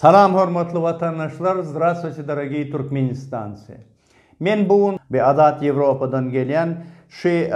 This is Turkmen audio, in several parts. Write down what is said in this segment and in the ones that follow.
Salam hormatly watandaşlar Zdravstvuyte dorogiý Turkmenistanci Men bu gün bi Azat Ýewropadan gelýän şi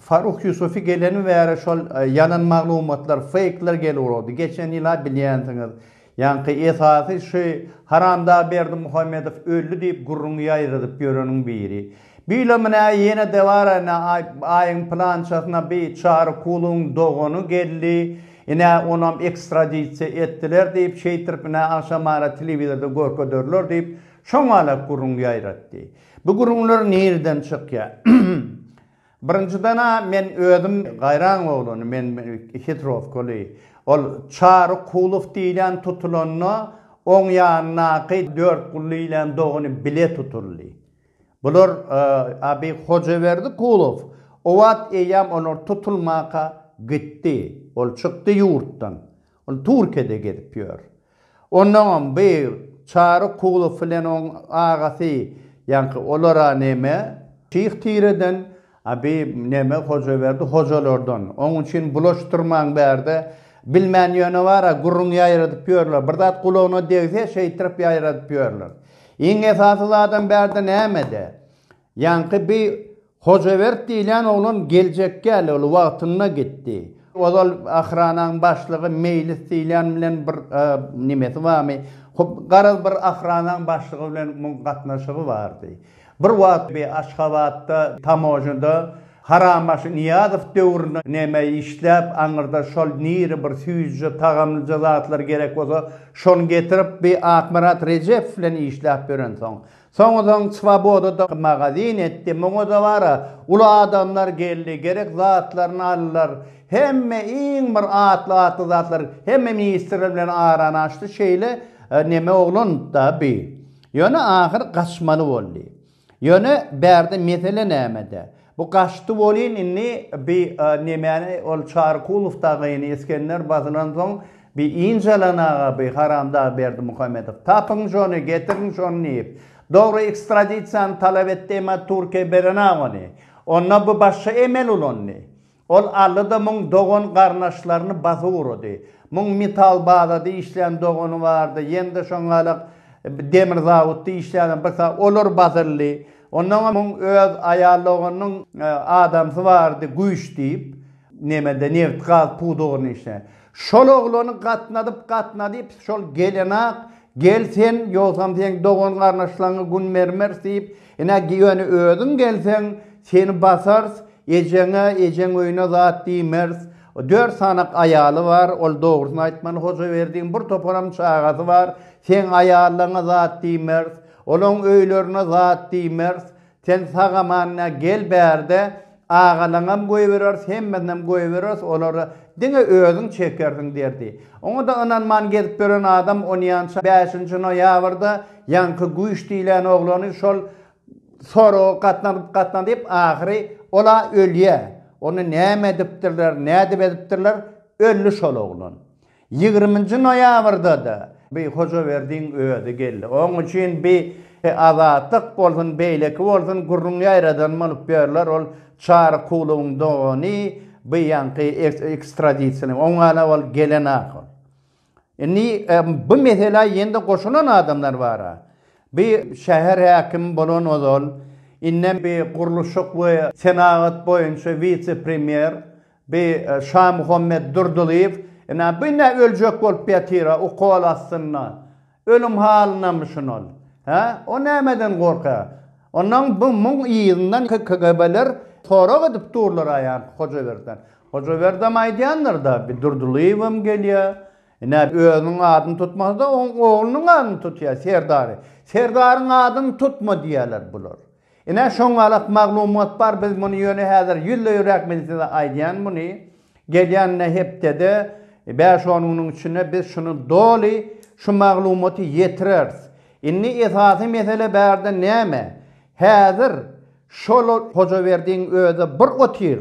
Faruh Ýusufi geleni bäri şol ýalan maglumatlar feýkler gelip urady geçen ýyla bilýänsiňiz ýaňky esasy şi Haramdag Berdimuhamedow öldi diýip gürrüň ýaýradyp ýöreniň biri Bilemine ýene dewara ine aý aýyň plançasyna bi çary kuluň dogany geldi ine onam ekstradisiýa etdiler diýip şeýtirip ine agşamara telewizorda görkederler diýip şoňalak gürrüň ýaýratdy bu gürrüňler nireden çykýa birinjidena men özüm gaýraň oglan men hitrowkaly ol çary kulow diýlen tutulanda oň ýanyndaky dört gully ilen dogany bile tutuldy. Bular Abi Hojaberdi Kulow. O wagt eýýäm olar tutulmaka gitdi. Ol çykdy ýurtdan. Ol Türkiýede gezip ýör. Ondaňam bi Çary Kulow bilen oň agasy ýaňky olara neme şyh tireden A bi neme Hojaberdi hojalardan. Oň üçin bulaşdyrmaň bärde. Bilmän ýöne bar-a gürrüň ýaýradyp ýörler. Bir zat gulagyna degse şeýtirip ýaýradyp ýörler. Iň esasy zadam bärde nämede? Ýaňky bi Hojabert diýilýän oglan geljekgäli ol wagtynda gitdi. Ozal ahranaň başlygy Meýlis diýilýän bilen bir nimesi barmy? Garaz bir ahranaň başlygy bilen muň gatnaşygy bardy. Bir wagt bir Aşgabatda tamojada Harambaşy Nyýazow döwründe neme işläp, aňyrda şol niri bir süýjüje, tagamlyja zatlar gerek bolsa, şony getirip, bir Akmyrat Rejepow bilen işläp ýörensoň. Soň soň Swobodada magazin etdi. Muňa-da bar-a, uly adamlar geldi, gerek zatlaryny aldylar. Hemme iň bir atly-atly zatlar, hemme ministrler bilen arany açdy. Şeýle neme oglan-da bi. Ýöne ahyr gaçmaly boldy. Ýöne bärde mesele nämede? Bu gaçdy welin indi bi nemäni ol Çarykulow dagyny Isgender basylansoň bi ynjalanaga bi haramdag Berdimuhamedow. Tapyň şony, getiriň şony diýip. Dogry ekstradisiýany talap etdi emma Türkiýe berenak ony. Onda bi başga emel ulandy. Ol aldy-da muň dogan-garnaşlaryny basyp ugrady. Muň metal bazada işleýän dogany bardy, ýene-de şoňalak demir zawutda işleýän bir sa, olar basyldy. Onnoňam muň öz aýal doganynyň adamsy bardy, Güýç diýip, nemede nebit-gaz pudagyny işleýän. Şol oglany gatnadyp-gatnadyp, şol gelenak Gel sen, ýogsam seň dogan-garyndaşlaryňy gün bermeris diýip, ine, ýöne özüň gelseň, seni basarys, ejeňe, ejeň öýüne zat diýmeris. Dört sanak aýaly bar, ol dogrusyny aýtmaly, Hojaberdiň bir toparam çagasy bar, seň aýallaryňa zat diýmeris, olaryň öýlerine zat diýmeris, Sen sag-aman-a gel bärde, agalaňam goýbereris, hemmesinäm goýbereris, olary diňe özüň çekersiň derdi. Oňa-da ynanman gezip ýören adam onýança bäşinji noýabrda ýaňky Güýç diýlen oglany şol soraga gatnadyp-gatnadyp, ahyry ol-a ölýär. Ony näme edipdirler, nädip edipdirler, öldi şol oglan. Ýigriminji noýabrda-da bi Hojaberdiň özi geldi. Oň üçin bi Azatlyk bolsun, beýleki bolsun gürrüň ýaýradan bolup ýörler. Ol Çary Kulowyň dogany, bi ýaňky ekstradisiýaly. Oňa-da ol gelen ahal. Indi bi meselä ýene-de goşulan adamlar bar-a. Bi şäher häkimi bolan ozal, indem bi gurluşyk we senagat boýunça wise-premýer, Bi Şamuhammet Durdylyýew ina bu ne öljek bolup ýatyra ukol astynda ölüm halynamyşyn ol? Hä? O nämeden gorka? Ondan bu muň yzyndan KGB-ler sorag edip durlara ýaňky Hojaberden. Hojaberdem aýdýandyr-da bi Durdylyýewem gelýä. Ina özüniň adyny tutmasa-da oň oglunyň adyny tutýa Serdary. Serdaryň adyny tutma diýýäler bular. Ine şoň galak maglumat bar biz muny ýöne häzir ýüzde ýüräk men size aýdýan muny gelýän ine hepdede bäş on günüň içinde biz şuny doly şu maglumaty ýetireris indi esasy mesele bärde näme häzir şol hojaberdiň özi bir otyr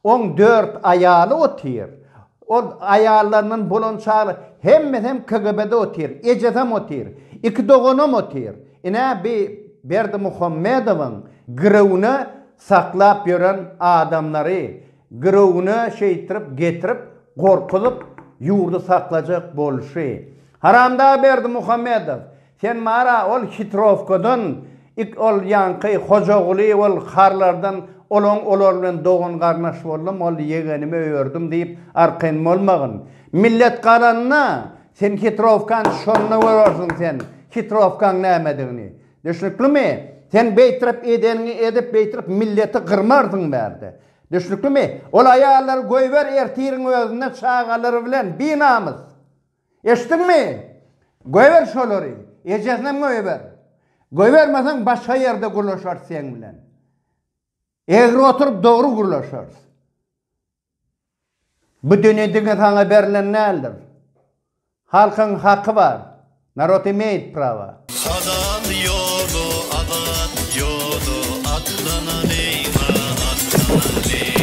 Oň dört aýaly otyr. Ol aýallaryndan bolan çagla hemmesem KGB-de otyr. Ejesem otyr. Iki doganam otyr. Ine bi Berdimuhammedowyň girewine saklap ýören adamlary girewine şeýtirip getirip gorkuzyp ýurdy saklajak bolşy. Haramdag Berdimuhammedow Sen mara ol hitrowkadan ik ol ýaňky Hojaguly ol harlardan olaň olar bilen dogan garnaş boldum ol ýegenimi öýerdim diýip arkaýyn bolmagyn. Millet galanda sen hitrowkany şonda görersiň sen hitrowkaň nämedigini. Düşnüklimi? Sen beýtrip edeniňi edip beýtrip milleti gyrmarsyň bärde. Düşnüklimi? Ol aýallary goýber ertiriň özüne çagalary bilen binamys. Eşitdiňmi? Goýber şolary. Ejesinem goýber. Goýbermeseň başga ýerde gürleşeris seň bilen. Egri oturyp dogry gürleşeris. Bu dünýe diňe saňa berlen däldir. Halkyň haky bar. Narod imeýt prawa. Halal ýola azat ýola atlanalima atlanalima.